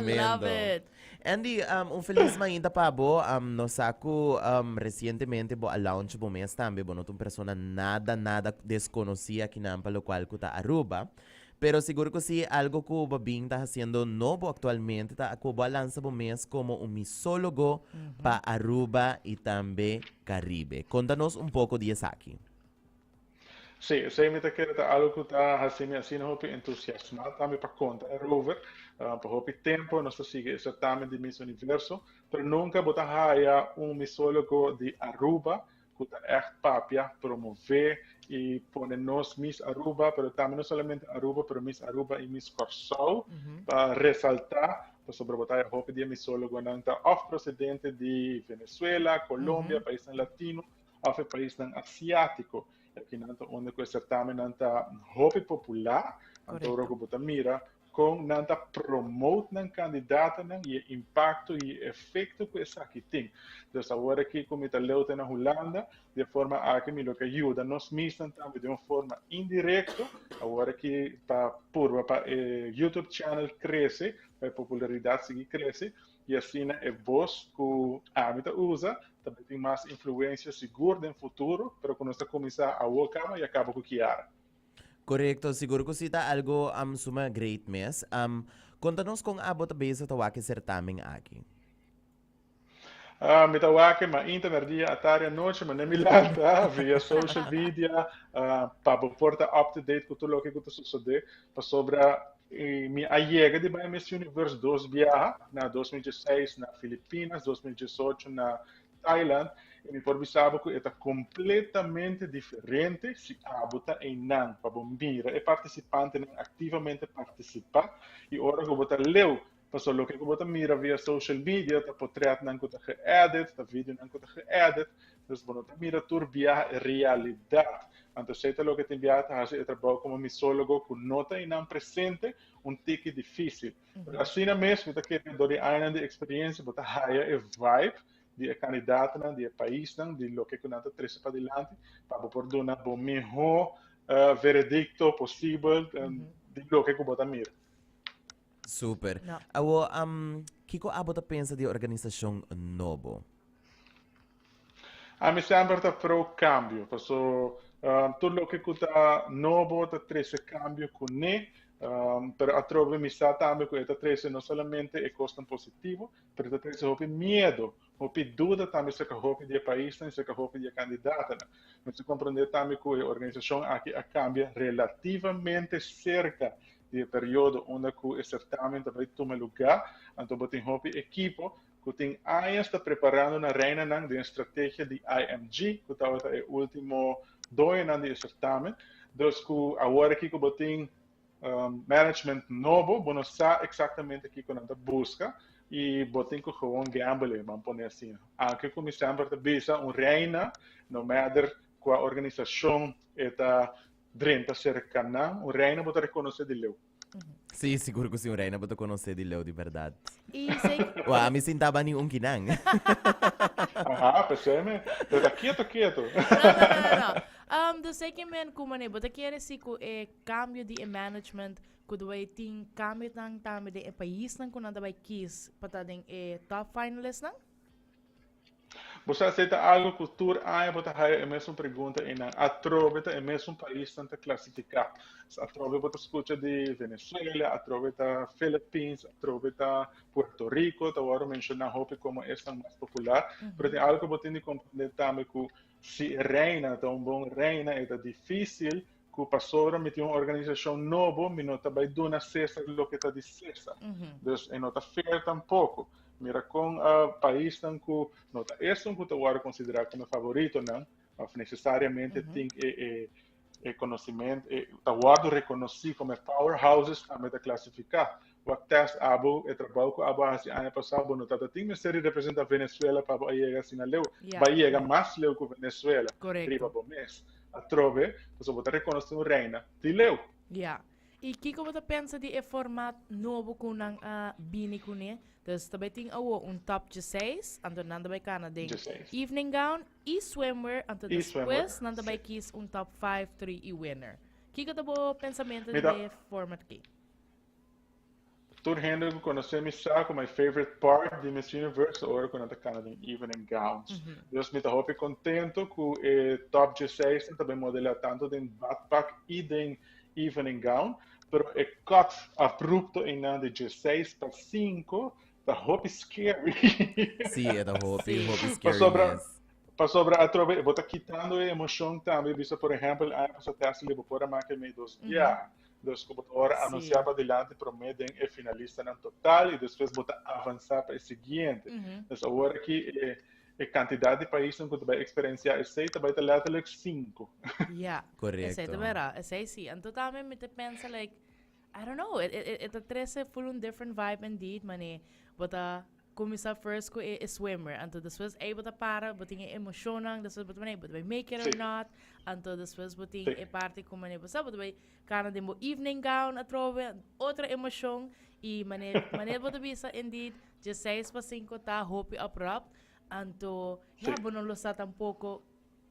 Love it. Andy, um, un feliz mañana pa bo. Um, no saco um, recientemente bo a launch bo mes también. Bo no un persona nada, nada desconocida aquí nampa, lo cual cuta Aruba. Pero seguro que sí, algo que bo bien está haciendo nobo actualmente, ta que bo a lanza bo mes como un misólogo mm -hmm. pa Aruba y también Caribe. Contanos un poco de esa aquí. Sí, esei mi ta kere ta algo ku ta hasi mi asina hopi entusiasmá tambe pa konta erover. Ah, pa hopi tempu nos ta sigui e sertamen di Miss Universo, pero nunka bo ta haya un misólogo di Aruba ku ta ègt papia, promové i pone nos Miss Aruba, pero tambe no solamente Aruba, pero Miss Aruba i Miss Kòrsou, pa resaltá pasobra bo ta haya hopi di e misólogonan ta òf prosedente di Venezuela, Colombia, paisnan latino, of e paisnan asiatiko, e akinan ta unda ku e sertamennan ta hopi populá, anto ora ku bo ta mira kon nan ta promote nan kandidatonan i e impakto i e efekto ku esaki tin. Entonces awor aki ku mi ta leu te na Hulanda, di e forma aki mi lo ke yuda nos misnan tambe di un forma indirekto, awor aki pa purba pa e YouTube channel krese, pa e popularidat sigui krese, y asina e voz cu ami ta usa ta bay tin mas influencia sigur den futuro, pero cu nos ta cuminsa awo caba y a caba cu Kiara. Corecto, sigur cu si ta algo suma great mes. Con ta nos con abo ta bezig ta wak e certamen aki? Mi ta wak ma inta na dia, atari, anochi, ma nen mi lanta via social media pa bo por ta up to date cu tur loke cu ta sucede pasobra E mi a yega di bai Miss Universe dos biaha, na 2016 na Filipinas, 2018 na Thailand, y mi por bisa bo cu e ta completamente diferente si abo ta eynan pa bo mira e participantenan activamente participa y ora cu bo ta leu Pasobra loke ku bo ta mira via social media ta potrètnan ku ta ge-edit, ta videonan ku ta ge-edit, dus bo no ta mira tur biaha e realidat. Anto esei ta loke tin biaha ta hasi e trabou komo misólogo ku no ta einan presente un tiki difísil. Pero asina mes mi ta kere ku dor di añanan di eksperiensia bo ta haya e vibe di e kandidatnan, di e paisnan, di loke ku nan ta trese padilanti pa bo por duna bo mihó veredikto posibel di loke ku bo ta mira. Super. No. Awo, am, kiko abo ta pensa di e organisashon nobo? Ami semper ta pro kambio, paso um, tur loke ku ta nobo ta trese kambio kuné, um, pero atrobe mi sa tambe ku e ta trese no solamente e kosnan positivo, pero ta trese hopi miedo, hopi duda tambe serka hopi di e paisnan i serka hopi di e kandidatonan. Mester komprendé tambe ku e organisashon aki a kambia relativamente serka di e periodo unda cu e certamen ta bay tuma luga, anto bo tin hopi ekipo cu tin añas ta preparando nan reinanan den strategia di IMG, cu tabata e ultimo doñonan di e certamen. Dus cu awor aki cu bo tin management nobo, bo no sa exactamente kico nan ta busca y bo tin cu gewoon gambele, ban pone asina. Aki cu mi semper ta bisa, un reina, no matter cua organisacion e ta drenta serka nan, un reina bo ta rekonosé di leu. Sí, sigur ku si, un reina bo ta konosé di leu di bèrdat. I sei. Wou, ami sin taba niun kinan. Aha, pesei me, pero ta keto keto. No, no, no, no, no. Um, dus sei ki men ku mané, bo ta kere si ku e kambio di e management ku ta bai tin kambinan tambe den e paisnan ku nan ta bai kis pa ta den e top finalistnan? Bo sa se ta algo cu tur aña bo ta haya e mesun pregunta eynan. Atrobe ta e mesun paisnan ta clasifica. Atrobe bo ta scucha di Venezuela, atrobe ta Philippines, atrobe ta Puerto Rico, ta worde menciona hopi como esnan mas popular. Pero tin algo cu bo tin di comprende tambe cu si e reina ta un bon reina e ta dificil cu pasobra mi tin un organisacion nobo, mi no ta bay duna Cesar loke ta di Cesar. Mm -hmm. Dus e no ta fair tampoco. Mira con uh, ah, paisnan cu no ta esun cu ta wara considera como favoritonan, of necesariamente mm -hmm. tin e, e, e conocimiento, e, ta wara reconocí como powerhouses también ta clasifica. wak test abo e trabao ku abo a hasi aña pasá, bo no ta ta tin mester di representá Venezuela pa bo a yega asina leu. Bo a yega mas leu ku Venezuela riba bo mes. Atrobe, pasobra bo ta rekonosé un reina di leu. Ya. I kiko bo ta pensa di e format nobo ku nan a bini kuné? Dus ta bai tin awo un top djeseis, anto nan ta bai kana den evening gown i swimwear, anto despues nan ta bai kis un top five, three i winner. Kiko ta bo pensamentu den e format akí? Tur hende ku konosé mi sa ku my favorite part di Miss Universe ora ku nan ta kana den evening gowns. Dus mi ta hopi kontentu ku e top 16 nan ta bin modelá tantu den badpak i den evening gown, pero e cut abrupto einan di 16 pa 5 ta hopi scary. Sí, e ta hopi, Sí. hopi scary Pasobra, mes. pasobra atrobe bo ta kitando e emoshon tambe. Bisa por ehèmpel aña pasá Tessely bo por a make meidos biaha. Nos computadora a anuncia sí. pa delante promé den e finalista nan total y después bota avanza pa e siguiente. Uh -huh. Entonces ahora aquí e, e cantidad de países que te experiencia ese te vai te letterlijk 5. Ja, correcto. Ese te vera, ese sí. En total me me te pensa like I don't know, it it it, it trece full un different vibe indeed, mané. Bota Kuminsá first ku e swimmer, anto despues ei bo ta para, bo tin e emoshonnan, despues bo ta mane bo ta bai make it or not, anto despues bo tin e parti ku mane bo sa bo ta bai kana den bo evening gown atrobe, otro emoshon, i mane mane bo ta bisa indeed dje seis pa sinku ta hopi abrupt, anto ya bo no lo sa tampoko.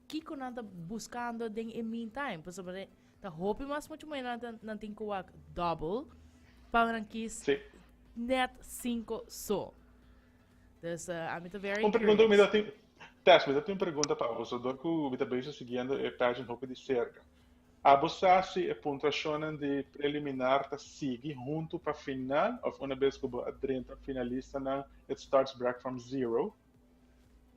Kiko nan ta buskando den e meantime? Pasobra ta hopi mas mucho moe nan, nan tin ku wak double pa nan kis sí. net cinco so. Dus uh, a mi ta very Un pregunta ku mi ta tin Tess, mi ta tin un pregunta pa bo, so dor ku mi ta bezig siguiendo e pageant hopi di cerca. Abo sa si e puntuacionnan di preliminar ta sigui hunto pa final of una bes ku bo a drenta finalistanan it starts brack from zero?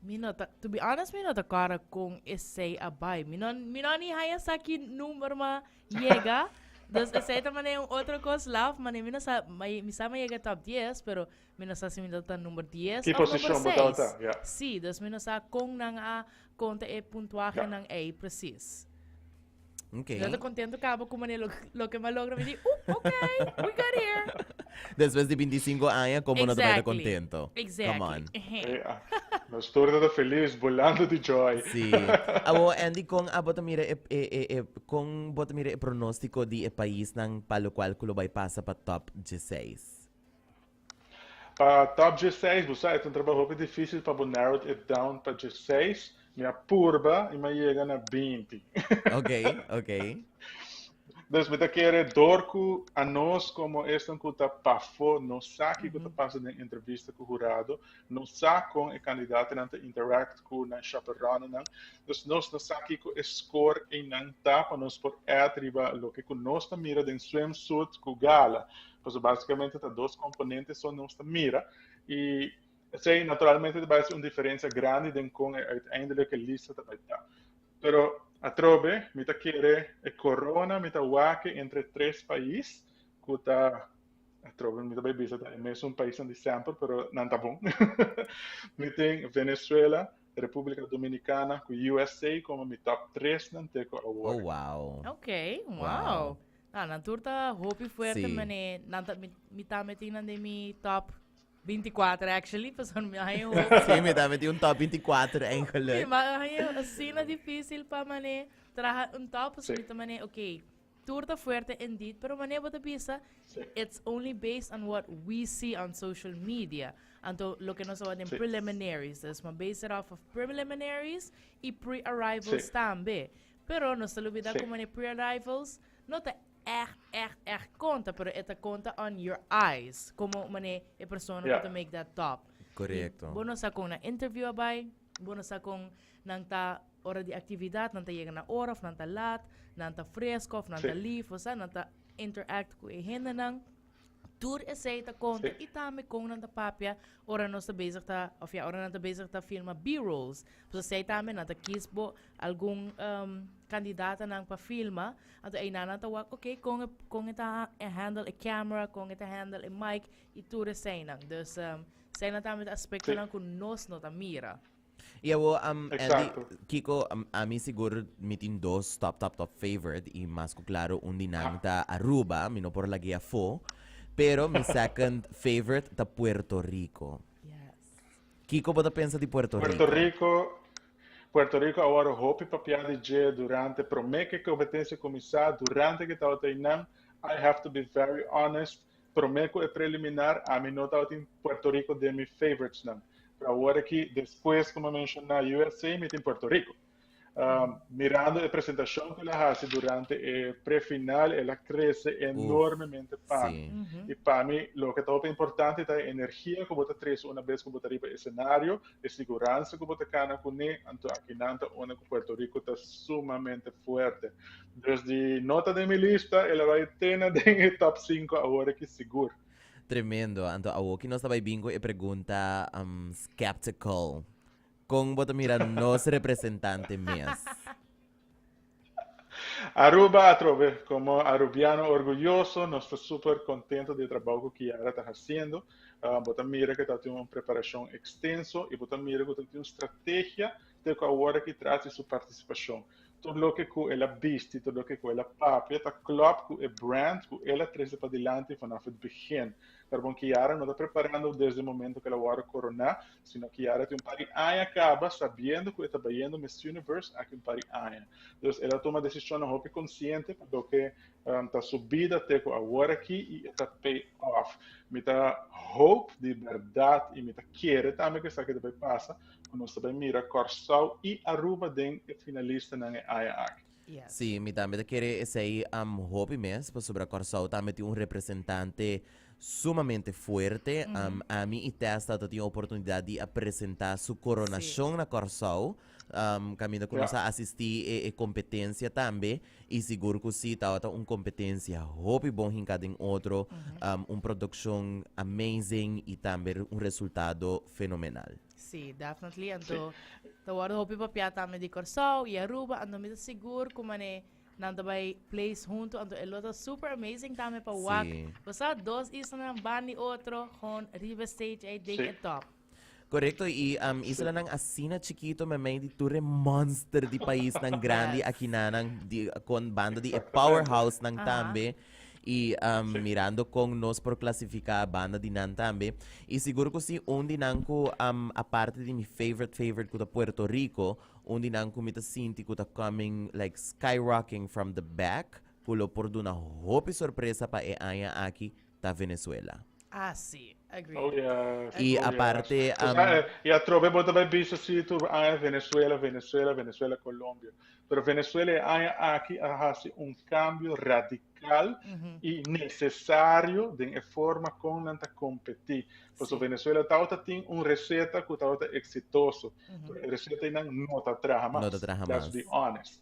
Mi no ta, to be honest, mi no ta kora kon esei a bai. Mi no, mi no ni haya saki number ma yega. dus esei ta mane un otro kos laf, mane mi no sa, ma, mi sa ma yega top 10, pero mi no sa si mi tabata number 10 Ki of number posishon bo 6. tabata, ya. Sí, dus mi no sa kon nan a konta e puntuahenan ei presis. Okay. Yo te contento cabo como lo, lo que me logra me di, uh, ok, we got here. Después de 25 años, como exactly. no te contento? Exactly. Come on. Eh, ah, nos torna de feliz, volando de joy. Sí. Abo, Andy, con abo te mira, e, e, e, e, con bo te mira e pronóstico di e país nan pa lo cual culo bay pasa pa top 16? Pa top djeseis bo sa e ta un trabou hopi dificil pa bo narrowed it down pa djeseis mi a purba y mi a yega na binti. Ok, ok. Dus mi ta kere door cu anos como esnan cu ta pafo no sa kico ta pasa den entrevista cu hurado, no sa con e candidatonan ta interact cu nan chaperonenan, dus nos no sa kico e score eynan ta pa nos por add riba loke cu nos ta mira den swimsuit cu gala. Pasobra básikamente ta dos komponente so nos ta mira i esei naturalmente ta bai hasi un diferensia grandi den kon e uiteindelike lista ta bai ta. Pero atrobe mi ta kere e korona mi ta wak entre tres pais ku ta atrobe mi ta bai bisa ta e mesun paisnan di semper pero nan ta bon. mi tin Venezuela, Repúblika Dominikana ku USA komo mi top tresnan te ku awor. Oh wow. Ok, wow. Ah, nan tur ta hopi fuerte, Sí. mané. Nan ta, mi, mi ta metí nan de mi top 24, actually, pasan mi hay un hopi. Sí, me también tiene un top 24 Sí, eigenlijk. maar hij is asina difícil pa mané traha un top, so Sí. mi te mané, ok, toer te fuerte indeed, pero mané bo te bisa, it's only based on what we see on social media. Anto, lo que nos houden in Sí. preliminaries, dus, maar base it off of preliminaries y pre-arrivals Sí. tambe. Pero nos ta lubida sí. como ne pre-arrivals no ta echt, echt, echt conta, pero e ta conta on your eyes, como mane e persona yeah. to make that top. Correcto. Bono sa con na interview abai, bono sa con nan ta hora di actividad, nan ta llega na hora, of nan ta laat, nan ta fresco, of nan sí. ta lief, o sa, nan ta interact cu e hende nan. Tur esei ta konta i tambe kon nan ta papia ora nos ta bezig ta, òfia ora nan ta bezig ta filma B-rolls. Pasobra esei tambe nan ta kis bo algun kandidatanan pa filma. Anto einan nan ta wak oké kon e kon e ta handle e kèmera, kon e ta handle e mic i tur eseinan. Dus eseinan tambe ta aspektonan ku nos no ta mira. Y awor, um, Andy, Exacto. Kiko, um, a mi sigur mi tin dos top, top, top favorite. Y mas cu claro, un di nan ta Aruba, mi no por lagea fo. Pero mi second favorite ta Puerto Rico. Yes. Kiko bota pensa di Puerto, Puerto Rico? Rico, Puerto Rico awor hopi papia di dje durante prome ke competencia cominsa, durante ke tabata inan. I have to be very honest, Prome cu e preliminar ami no tabatin Puerto Rico den mi favoritesnan. Pero awor aki despues cu mi a menciona USA mi tin Puerto Rico. Mirando e presentacion cu el a haci durante e prefinal el a crece enormemente pami. Y pami loke ta hopi importante ta e energia cu bo ta trece una bes cu bo ta riba e scenario, e siguransa cu bo ta cana cune, anto aki nan ta unda cu Puerto Rico ta sumamente fuerte. Desdi no ta den mi lista, el a bai te na den e top sinku awor aki sigur. Tremendo, anto awoki nos ta bai bin ku e pregunta skeptical. Kon bo ta mira nos representante mes? Aruba atrobe, komo arubiano orguyoso nos ta super kontento di e trabou ku Kiara ta hasiendo. Bo ta mira ku e tabata un preparashon ekstenso i bo ta mira ku tabata un strategia te ku awor aki tras di su partisipashon. Tur loke ku el a bisti, tur loke ku el a papia ta klòp ku e brand ku el a trese padilanti vanaf e begin. Pero bon Kiara no ta preparando desde momento ku el a wòrdu koroná, sino Kiara tin un par di aña kaba sabiendo ku e ta bayendo Miss Universe aki un par di aña. Dus el a tuma desishonnan hopi konsiente pa loke ta su bida te ku awor aki i e ta pay off. Mi ta hope di bèrdat i mi ta kere tambe ku esaki ta bay pasa, cu nos ta bay mira Corsou y Aruba den e finalistanan e aña aki. Si, mi tambe ta kere esey am hopi mes, pasobra Corsou tambe tin un representante sumamente fuerte. Am, ami y Testa ta tin oportunidad di a presenta su coronacion na Corsou, am, caminda cu nos a asisti e e competencia tambe. Y sigur cu si, tabata un competencia hopi bon hinca den otro, un produccion amazing y tambe un resultado fenomenal. Sí, definitely. Anto ta wordo hopi papia tambe di Corsou y Aruba, anto mi ta sigur cu mane nan ta bay place hunto, anto e lo ta super amazing tambe pa wak. Sí. Bosa dos islanan ban di otro, gewoon riba e stage ey den e top. Correcto, y um, isolanan asina chiquito me mei di tur monster di país nan grandi yes. aquí nanan di, con banda di e powerhouse nan uh-huh. tambe. Y um, sí. mirando con nos por clasificar banda di nan tambe. Y seguro que sí, un di nan cu, um, aparte di mi favorite favorite cuta Puerto Rico, un di nan cu mi ta sinti cuta coming, like skyrocking from the back, cu lo por duna hopi sorpresa pa e aña aquí, ta Venezuela. Asi, agree. Oh yeah, I oh yeah. aparte, Cos um, ah, eh, y atrobe bo ta bai bisa si tur aña Venezuela, Venezuela, Venezuela, Colombia. Pero Venezuela e aña aki a hasi un cambio radical y necesario den e forma con nan ta competi. Paso Sí. Venezuela tawata tin un receta cu tawata exitoso. Pero e receta einan no ta traha mas. No ta traha Let's mas. be honest.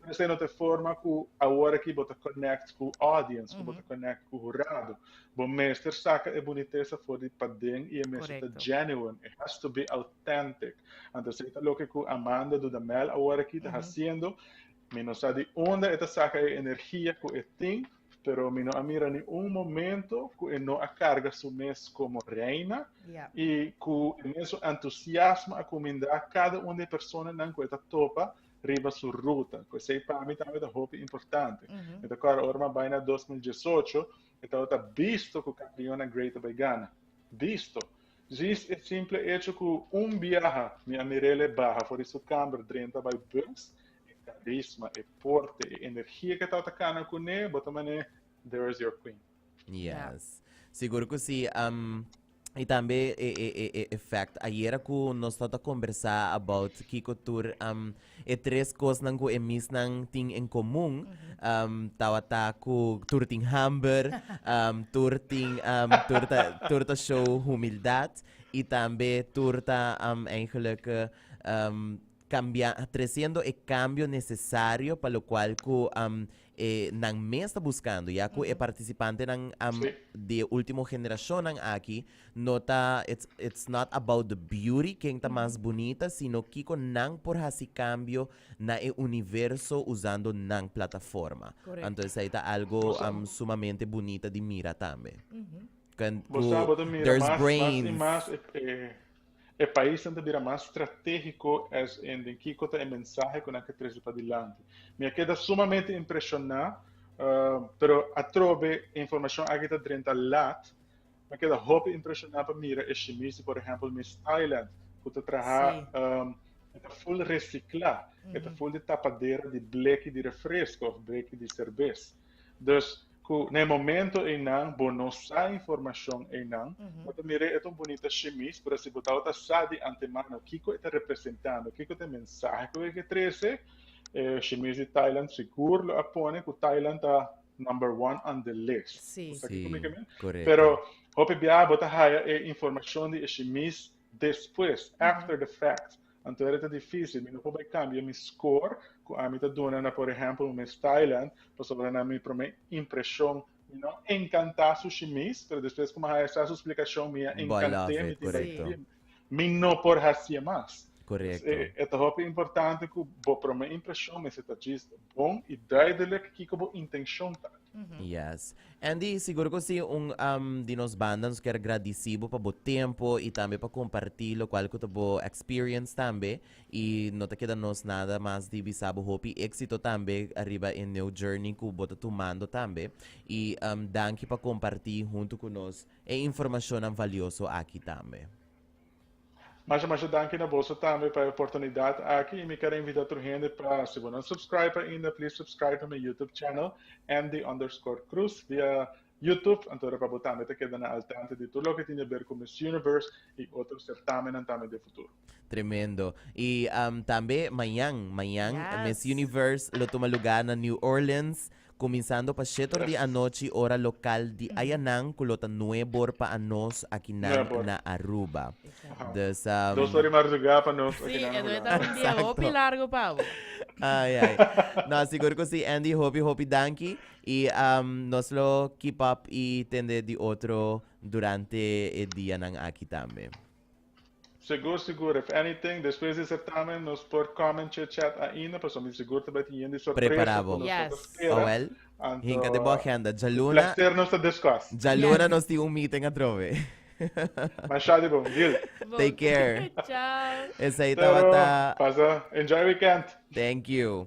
Pero esei no ta e forma ku awor aki bo ta konèkt ku audience, ku bo ta konèkt ku hurado. Bo mester saka e bunitesa for di paden i e mester ta genuine, it has to be authentic. Anto esei ta loke ku Amanda Dudamel awor aki ta hasiendo. Mi no sa di unda e ta saka e energia ku e tin, pero mi no a mira niun momento ku e no a karga su mes komo reina i ku e mes su entusiasmo a kumindá kada un di e personanan ku e ta topa riba su ruta. Cu esey pa mi tambe ta hopi importante. Mm -hmm. Eta cora orma baina 2018, eta ota bisto cu campeona Greater by Ghana. Bisto. Jis e simple hecho cu un biaha mi a mirele baha for di su camber drenta by bus, e carisma, e porte, e energia que eta ota cana cune, bota mane, there is your queen. Yes. Sigur ku si. Um, y tambe e, e, e, e effect. Ayera ku nos ta conversa about kiko tur um, e tres kosnan ku e misnan tin en komun. Um, tawata ku tur tin hamber, um, tur tin um, tur ta, tur ta show humildad y tambe tur ta um, eigenlijk um, cambia, treciendo e cambio necesario pa lo cual cu um, e nan mes ta buskando ya ku e partisipantenan di e último generashonnan aki no ta it's it's not about the beauty ken ta mas bunita sino kiko nan por hasi kambio na e universo usando nan plataforma anto esei ta algo sumamente bunita di mira tambe. Bo sa bo ta mira mas mas i mas e. E paisnan ta bira mas stratégiko SN. den kiko ta e mensahe ku nan ke trese pa dilanti. Mi a keda sumamente impreshoná, pero atrobe e informashon aki ta drenta lat. Mi a keda hopi impreshoná pa mira e shimisti, por ehèmpel Miss Thailand, ku ta trahá, e ta ful resiklá, e ta ful di tapadera di bleki di refresko òf bleki di serbes. Dus ku na e momento einan bo no sa informashon einan, bo ta mir'é e ta un bunita shimis, pero si bo tabata sa di antemano kiko e ta representando, kiko ta e mensahe ku e ke trese, e shimis di Thailand sigur lo a pone ku Thailand ta number one on the list. Sí. Bo sa kiko mi ke mi? Sí, korekto. Pero hopi biaha bo ta haya e informashon di e shimis despues, after the fact, anto era ta difícil, mi no por bai kambia mi score ku ami ta duna na, por ehèmpel, Miss Thailand, pasobra na mi promé impreshon mi no enkantá sushi mis, pero despues ku mi a haña esaki splikashon mi a Bai enkant'é, lave, mi tin bai korekto. djim. Mi no por hasié mas. Dus Korekto. e e ta hopi importante ku bo promé impreshon mester ta djis bon i duidelijk kiko bo intenshon ta. Yes. Andy, sigur cu si un di nos banda nos quier gradici bo pa bo tempo y tambe pa comparti locual cu ta bo experience tambe y no ta keda nos nada mas di bisa bo hopi exito tambe ariba e new journey cu bo ta tumando tambe y danki pa comparti hunto cu nos e informacionnan valioso aki tambe. Masha masha danki na boso tambe pa e oportunidad aki y mi ker a invita tur hende pa si bo no subscribe ainda please subscribe na mi YouTube channel Andy underscore Cruz via YouTube anto ora pa bo tambe ta keda na al tanto di tur loke tin yaber ku Miss Universe y otro sertamenan tambe den futuro. Tremendo. Y tambe mañan, mañan Miss Universe lo tuma lugar na New Orleans. Kuminsando pa shetor di anochi ora lokal di ayanan ku lo ta nuebor pa anos akinan na Aruba. Dus a. Dos ora di mardugá pa nos akinan na Hulanda. Si, e dia ta hopi largu pa bo. Ai ai. No, sigur ku si Andy, hopi hopi danki i nos lo keep up i tende di otro durante e dianan aki tambe. Segur segur if anything despues di certamen nos por come en chit chat ainda pasobra mi segur ta bai tin yen di sorpresa ku nos ta por spera Awel hinka di bo agenda djaluna djaluna nos tin un meeting atrobe masha di bon deal take care esei tabata enjoy weekend thank you.